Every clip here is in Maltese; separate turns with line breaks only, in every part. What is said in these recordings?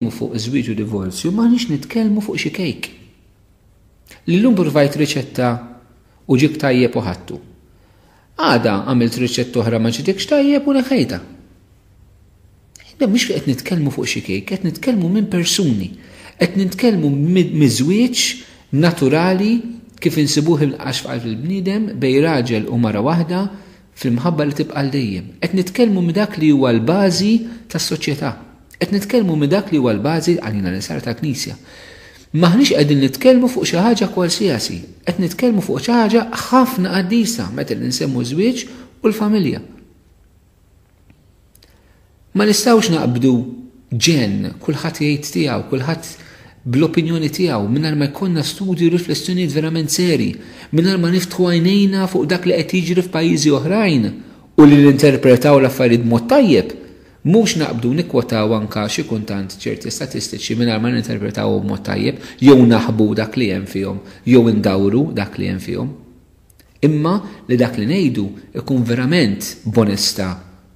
nitkellmu fuq iż-żwieġ u divorzju, m'aħniex nitkellmu fuq xi kejk. Li llum provajt riċetta u ġib tajjeb u ħadtu. Għada għamilt riċetta oħra ma ġitikx tajjeb u neħejta. Iżda mhux li qed nitkellmu fuq xi kejk, qed nitkellmu minn persuni, qed nitkellmu miż-żwieġ naturali kif insibuh il-qax f'qalb il-bniedem bej raġel u mara waħda fl-imħabba li tibqa' għal dejjem. Qed nitkellmu minn dak li huwa l-bażi tas-soċjetà. Qed nitkellmu minn dak li huwa l-bażi għalina li saret għall-Knisja. M'aħniex qegħdin nitkellmu fuq xi ħaġa kwalsiasi, qed nitkellmu fuq xi ħaġa ħafna qaddisa meta ninsemmu ż-żwieġ u l-familja. Ma nistgħux naqbdu ġenn, kulħadd jgħid tiegħu, kulħadd bl-opinjoni tiegħu, mingħajr ma jkollna studju riflessjonijiet verament seri, mingħajr ma niftħu għajnejna fuq dak li qed jiġri f'pajjiżi oħrajn u li ninterpretaw l-affarijiet b'mod tajjeb, mhux naqbdu nikkwotaw anke xi kuntant ċerti statistiċi mingħajr ma ninterpretawhom b'mod tajjeb jew naħbu dak li hemm fihom jew indawru dak li hemm fihom. imma li dak li ngħidu jkun verament b'onestà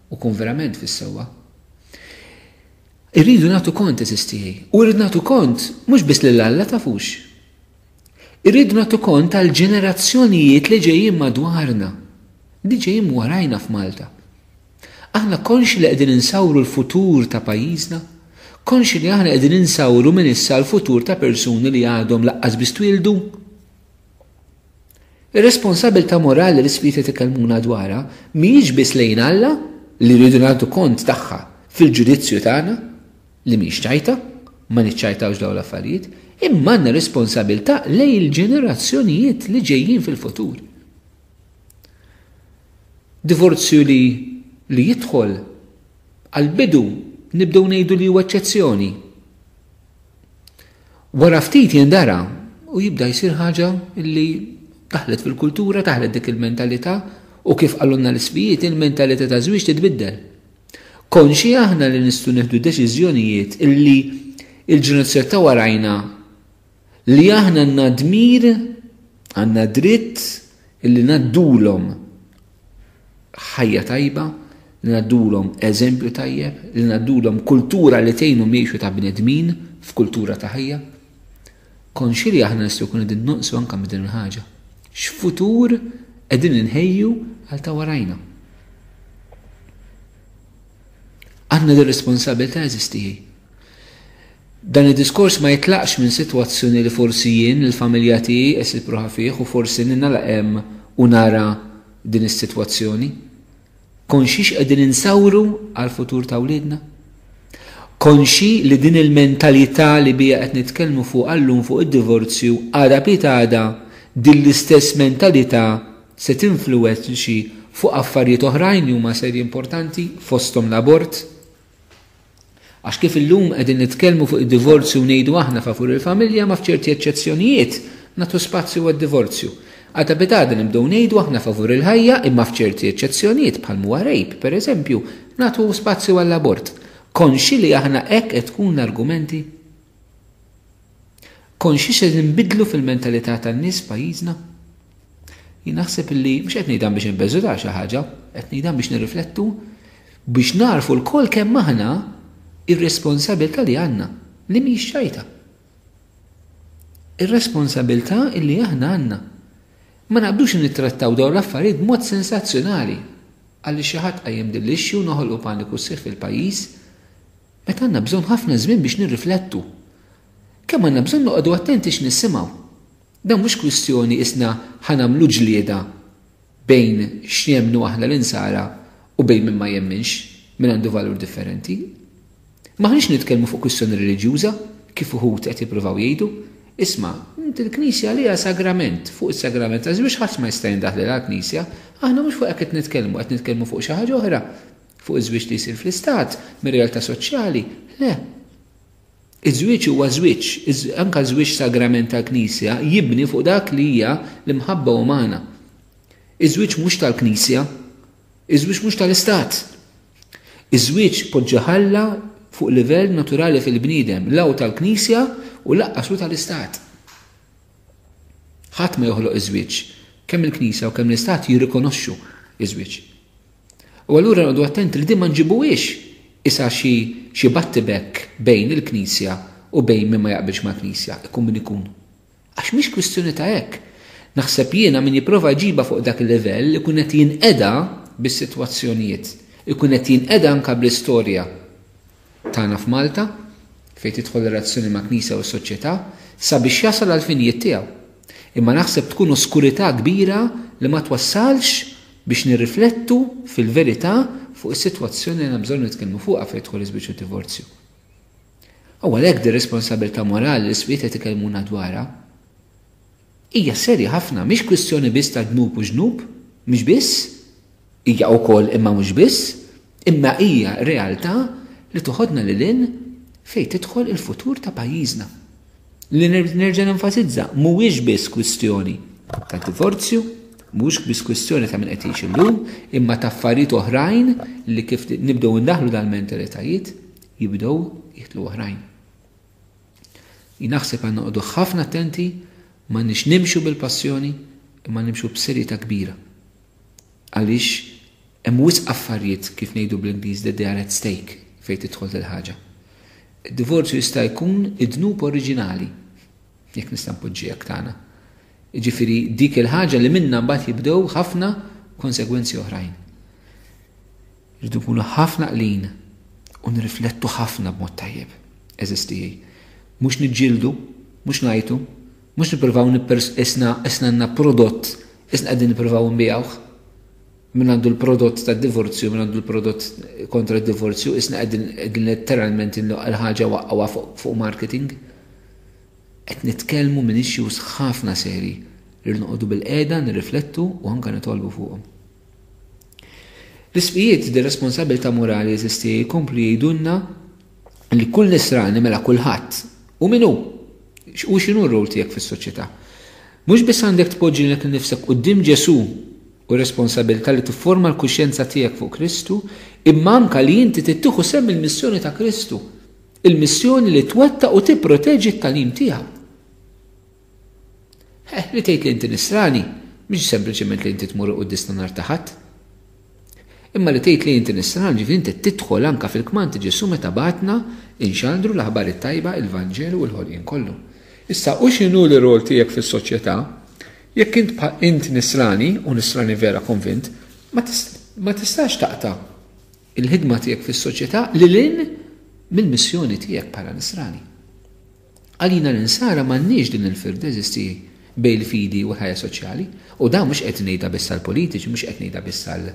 u jkun verament fis-sewwa. Irridu nagħtu kont eżis tiegħi u rrid nagħtu kont mhux biss lil Alla tafux. Irridu nagħtu kont tal-ġenerazzjonijiet li ġejjin madwarna, li ġejjin warajna f'Malta. Aħna konxi li qegħdin insawru l-futur ta' pajjiżna? Konxi li aħna qegħdin insawru minn issa l-futur ta' persuni li għadhom laqqas biss twildu? Ir-responsabbiltà morali li s-Sliet qed ikellmuna dwarha mhijiex biss lejn Alla, li rridu nagħtu kont tagħha fil-ġudizzju tagħna, li mhix ċajta, ma niċċajtawx dawn l-affarijiet, imma għandna responsabbiltà lejn il-ġenerazzjonijiet li ġejjin fil-futur. Divorzju li li jidħol għall-bidu nibdew ngħidu li huwa eċċezzjoni. Wara ftit jindara u jibda jsir ħaġa li daħlet fil-kultura, daħlet dik il-mentalità u kif qalulna l-isqfijiet il-mentalità taż-żwieġ titbiddel. Konxji aħna li nistgħu nieħdu deċiżjonijiet illi l-ġenerazzjoni ta' warajna li aħna għandna dmir, għandna dritt illi ngħaddulhom. ħajja tajba, li ngħaddulhom eżempju tajjeb, li ngħaddulhom kultura li tgħinhom jgħixu ta' bnedmin f'kultura ta' ħajja. Konxi li aħna nistgħu jkun qegħdin nonqsu anke minn din il-ħaġa. X'futur qegħdin inħejju għal ta' warajna. Għandna dir-responsabilità eżistijaj. Dan id-diskors ma jitlaqx minn sitwazzjoni li forsi jien, il-familja tiegħi qessit ruħha fih u forsi ningħalaq hemm u nara din is-sitwazzjoni. Konxji x'qegħdin insawru għall-futur ta' wliedna? Konxji li din il-mentalità li biha qed nitkellmu fuqha llum fuq id-divorzju għada pitgħada din l-istess mentalità se tinfluwenxi fuq affarijiet oħrajn li huma serji importanti fosthom l-abort? Għax kif illum qegħdin nitkellmu fuq id-divorzju u ngħidu aħna favur il-familja ma f'ċerti eċċezzjonijiet nagħtu spazju għad-divorzju. Għal ta' pitada nibdew ngħidu aħna favur il-ħajja imma f'ċerti eċċezzjonijiet bħal m'huwa rape, pereżempju, nagħtu spazju għall-abort. Konxi li aħna hekk qed tkun l-argumenti? Konxji se nbidlu fil-mentalità tan-nies f'pajjiżna? Jien naħseb li mhux qed ngħidha biex inbeżudaw xi ħaġa, qed ngħidha biex nirriflettu biex nagħrfu lkoll kemm aħna r-responsabilità li għandna, li mhijiex ċajta. Ir-responsabilità li aħna għandna. Ma naqbdux nittrattaw dawn l-affarijiet b'mod sensazzjonali. Għaliex xi ħadd qajjem din l-issue noħolqu paniku sħiħ fil-pajjiż, Meta għandna bżonn ħafna żmien biex nirriflettu. Kemm għandna bżonn noqogħdu attenti x'nisimgħu. Dan mhux kwistjoni qisna ħa nagħmlu ġlieda bejn x'jemmnu aħna l-Insara u bejn min ma jemminx, min għandu valur differenti. M'aħniex nitkellmu fuq kwistjoni reliġjuża, kif uħud qed jippruvaw jgħidu. Isma', int il-Knisja għaliha sagrament, fuq is-sagrament taż-żwieġ ħadd ma jista' jindaħlilha l-Knisja. Aħna mhux fuq hekk qed nitkellmu, qed nitkellmu fuq xi ħaġa oħra. Fuq iż-żwieġ li jsir fl-Istat, mir-realtà soċjali, le. Iż-żwieġ huwa żwieġ, anke żwieġ sagrament tal-Knisja jibni fuq dak li hija l-imħabba umana. Iż-żwieġ mhux tal-Knisja, iż-żwieġ mhux tal-Istat. Iż-żwieġ poġġa ħalla fuq livell naturali fil-bniedem, la hu tal-Knisja u lanqas hu tal-Istat. Ħadd ma joħloq iż-żwieġ, kemm il-Knisja u kemm l-Istat jirrikonoxxu iż-żwieġ. U allura noqogħdu attenti li din ma nġibuhiex isa xi xi battibekk bejn il-Knisja u bejn min ma jaqbilx mal-Knisja, ikun min ikun. Għax mhix kwistjoni ta' hekk. Naħseb jiena min jipprova jġibha fuq dak il-livell ikun qed jinqeda bis-sitwazzjonijiet, ikun qed jinqeda anke bl-istorja. tagħna f'Malta, fejn tidħol ir-relazzjoni mal-Knisja u s-soċjetà, sabiex jasal għall-finijiet tiegħu. Imma naħseb tkun oskurità kbira li ma twassalx biex nirriflettu fil-verità fuq is-sitwazzjoni li għandna bżonn nitkellmu fuqha fejn jidħol iż-żwieġ u d-divorzju. U għalhekk din responsabilità morali li s-Swied qed ikellmuna dwarha hija serja ħafna, mhix kwistjoni biss ta' dnub u ġnub, mhux biss, Hija wkoll, imma mhux biss, imma hija realtà li toħodna lil hinn fejn tidħol il-futur ta' pajjiżna. Li nerġa' nenfasizza, mhuwiex biss kwistjoni ta' divorzju, mhuwiex biss kwistjoni ta' min qed jgħix illum, imma ta' affarijiet oħrajn li kif nibdew indaħħlu dal-mentalitajiet jibdew jidħlu oħrajn. Jien naħseb għandna noqogħdu ħafna attenti m'għandniex nimxu bil-passjoni imma nimxu b'serjetà kbira. għaliex hemm wisq affarijiet kif ngħidu bl-Ingliż that they are at stake fejn tidħol dil ħaġa. Id-divorzju jista' jkun id-dnub oriġinali, jekk nista' npoġġiha tagħna. Jiġifieri dik il-ħaġa li minnha mbagħad jibdew ħafna konsegwenzi oħrajn. Rridu nkunu ħafna qlin u nirriflettu ħafna b'mod tajjeb. Eżiz tiegħi, mhux niġġieldu, mhux ngħajtu, Mhux nippruvaw nippers qisna qisna għandna prodott qisna qegħdin nippruvaw nbigħuh. Min għandu l-prodott tad-divorzju, min għandu l-prodott kontra d-divorzju, qisna qegħdin qegħdin letteralment il-ħaġa waqqgħuha fuq marketing. Qed nitkellmu minn issues ħafna serji li rridu noqogħdu bil-qiegħda nirriflettu u anke nitolbu fuqhom. L-ismijiet di responsabilità morali jeżisti jkomplu jgħidulna li kull Nisrani, mela kulħadd, hu min hu u x'inhu r-role tiegħek fis-soċjetà. Mhux biss għandek tpoġġi lilek innifsek quddiem Ġesù u r-responsabilità li tifforma l-kuxjenza tiegħek fuq Kristu, imma anke li inti trid tieħu sehem il-missjoni ta' Kristu, il-missjoni li twettaq u tipproteġi t-tagħlim tiegħu. Ħeh, li tgħid li inti Nisrani mhix sempliċement li inti tmur il-quddiesna nhar ta' Ħadd. Imma li tgħid li inti Nisran ġifieri inti tidħol anke fil-kmand ta' Ġesù meta bagħatna inxandru l-Aħbar it-Tajba, il-Vanġelu u l-ħolqien kollu. Issa, u x'inhu l-irwol tiegħek fis-soċjetà? Jekk int int Nisrani, u Nisrani vera konvint, ma tistax taqta' il-ħidma tiegħek fis-soċjetà lil hinn mill-missjoni tiegħek bħala Nisrani. Għalina l-Insara m'għandniex din il-firda eżisti bejn il-fidi u l-ħajja soċjali. U dan mhux qed ngħidha biss għall-politiċi, mhux qed ngħidha biss għal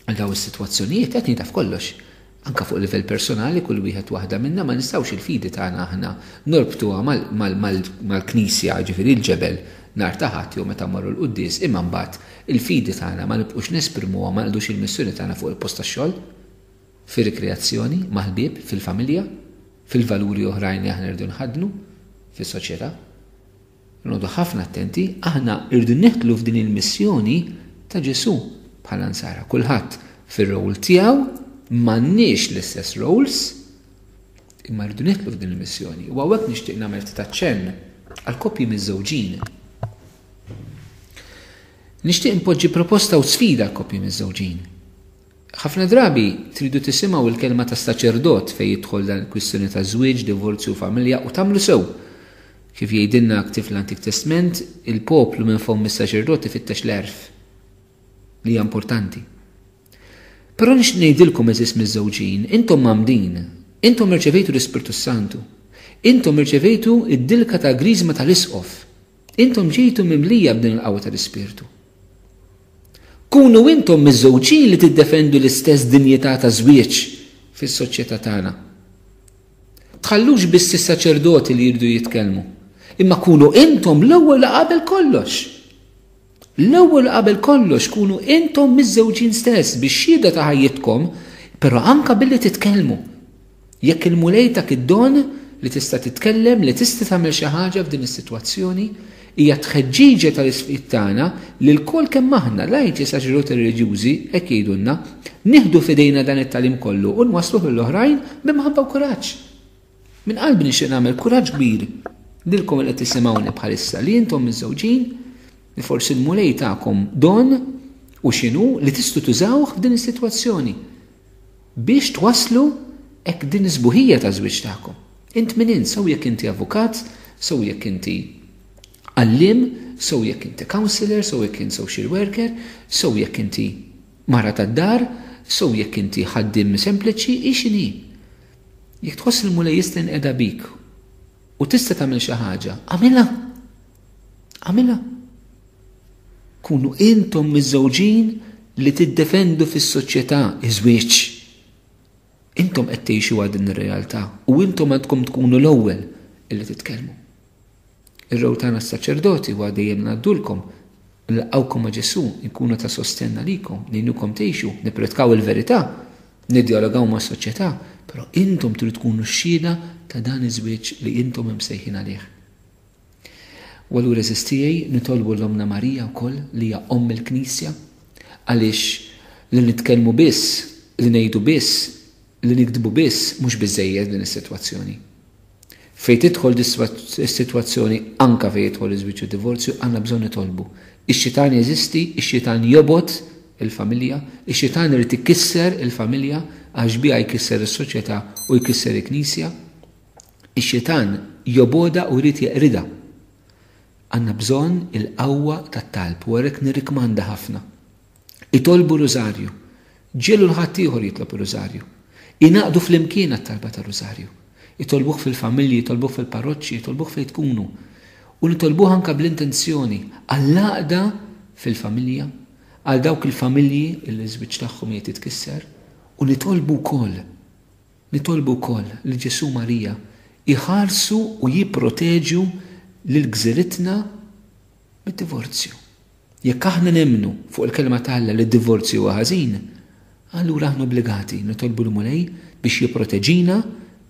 għal dawn is-sitwazzjonijiet, qed ngħidha f'kollox. Anka fuq livell personali kull wieħed waħda minna ma nistgħux il-fidi tagħna aħna norbtuha mal-knisja, ġifieri l-ġebel nhar ta' Ħadd jew meta mmorru l-quddies, imma mbagħad il-fidi tagħna ma nibqgħux nesprimuha ma nqdux il-missjoni tagħna fuq il-post tax-xogħol. fir-rikreazzjoni, mal-ħbieb, fil-familja, fil-valuri oħrajn li aħna rridu nħaddnu fis-soċjetà. Noqogħdu ħafna attenti, aħna rridu nidħlu f'din il-missjoni ta' Ġesù bħala nsara. Kulħadd fir-role tiegħu m'għandniex l-istess roles, imma rridu nidħlu f'din il-missjoni. U hawnhekk nixtieq nagħmel ftit aċċenn għal koppji miż-żewġin. Nixtieq npoġġi proposta u sfida għal koppji miż-żewġin. Ħafna drabi tridu tisimgħu l-kelma tas-saċerdot fejn jidħol dan il-kwistjoni ta' żwieġ, divorzju u familja u tagħmlu sew! Kif jgħidilna ktieb fl-Antik Testment, il-poplu minn fomm is-saċerdot ifittex l-għerf li hija importanti. Però nixtieq ngħidilkom għeżież miżżewġin, intom mgħammdin, intom irċevejtu l-Ispirtu s-Santu, intom irċevejtu d-dilka tal-griżma tal-Isqof, Intom ġejtu mimlija b'din il-qawwa tal-Ispirtu. Kunu intom miżżewġin li tiddefendu l-istess dinjità ta' żwieġ fis-soċjetà tagħna. Tħallux biss is-saċerdoti li jridu jitkellmu, imma kunu intom l-ewwel qabel kollox. L-ewwel u qabel kollox kunu intom miżżewġin stess bix-xhieda ta' ħajjitkom, però anke billi titkellmu. Jekk il-Mulej tak id-don li tista' titkellem, li tista' tagħmel xi ħaġa f'din is-sitwazzjoni, hija t-tħeġġiġa tal-isqfiet tagħna li lkoll kemm aħna, lajċi saċerdoti reliġjużi, hekk jgħidulna, nieħdu f'idejna dan it-tagħlim kollu u nwassluh lill-oħrajn b'imħabba u kuraġġ. Minn qalbi nixtieq nagħmel kuraġġ kbir lilkom li qed tisimgħuni bħalissa li intom miżżewġin li forsi l-Mulej takom don u x'inhu li tistgħu tużawh f'din is-sitwazzjoni biex twasslu hekk din is-sbuħija taż-żwieġ tagħkom. Int min int, sew jekk inti avukat, sew jekk inti għalliem, sew jekk inti counselor, sew jekk inti social worker, sew jekk inti mara tad-dar, sew jekk inti ħaddiem sempliċi, hi x'inhi. Jekk tħoss li l-Mulej jista' jinqeda bik u tista' tagħmel xi ħaġa, għamilha. Għamilha. Kunu intom miżżewġin li tiddefendu fis-soċjetà iż-żwieġ. Intom qed tgħixu għal din ir-realtà u intom għandkom tkunu l-ewwel illi titkellmu. Ir-row tagħna s-saċerdoti huwa dejjem ngħaddulkom, nilqgħukom ma' Ġesù, inkunu ta' sostenn għalikom, ngħinukom tgħixu, nippredkaw il-verità, niddjalogaw mas-soċjetà, però intom tridu tkunu xhieda ta' dan iż-żwieġ li intom imsejħin għalih. U allura għeżież tiegħi, nitolbu lil Ommna Marija wkoll li hija Omm il-Knisja, għaliex li nitkellmu biss, li ngħidu biss, Li niktbu biss mhux biżżejjed f'din is-sitwazzjoni. Fejn tidħol is-sitwazzjoni anke fejn jidħol iż-żwieġ u d-divorzju għandna bżonn nitolbu. Ix-xitan jeżisti, ix-xitan jobgħod il-familja, ix-xitan irid ikisser il-familja għax biha jkisser is-soċjetà u jkisser il-Knisja. Ix-xitan jobgħodha u jrid jeqridha. Għandna bżonn il-qawwa tat-talb u għalhekk nirrikmanda ħafna. Itolbu r-Rużarju. Ġiegħlu 'l ħaddieħor jitlob ir-Rużarju. Ingħaqdu flimkien għat-talba tar-Rużarju. Itolbuh fil-familji, itolbuh fil-parroċċi, itolbuh fejn tkunu. U nitolbuh anke bl-intenzjoni għall-għaqda fil-familja, għal dawk il-familji li ż-żwieġ tagħhom qiegħed jitkisser. U nitolbu wkoll, nitolbu wkoll li Ġesù u Marija jħarsu u jipproteġu lil gżiritna, mid-divorzju. Jekk aħna nemmnu fuq il-Kelma ta' Alla li d-divorzju huwa ħażin, allura aħna obbligati nitolbu l-Mulej biex jipproteġina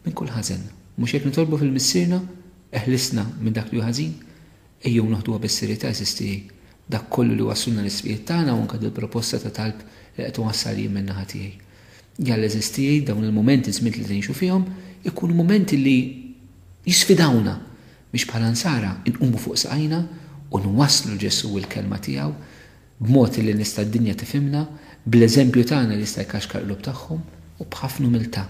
minn kull ħażen. Mhux hekk nitolbu fil-Missierna, Eħlisna minn dak li hu ħażin? Ejjew noħduha bis-serjetà, għeżież tiegħi, dak kollu li wasslulna l-isqfijiet tagħna u anke dil-proposta ta' talb li qed inwassal jien min-naħa tiegħi. Jalla, għeżież tiegħi, dawn il-mumenti, ż-żmiet li ngħixu fihom, ikunu mumenti li jisfidawna biex bħala Nsara nqumu fuq saqajna u nwasslu Ġesù u l-Kelma tiegħu b'mod illi nista' d-dinja tifhimna, bl-eżempju tagħna li jista' jkaxkar qlub tagħhom, u b'ħafna umiltà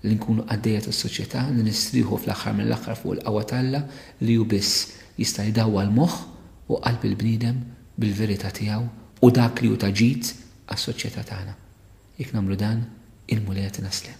li nkunu qaddejja tas-soċjetà li nistrieħu fl-aħħar mill-aħħar fuq il-qawwa ta' Alla li hu biss jista' jdawwal moħħ u qalb il-bniedem bil-verità tiegħu u dak li hu ta' ġid għas-soċjetà tagħna. Jekk nagħmlu dan, il-Mulej jagħtina s-sliem.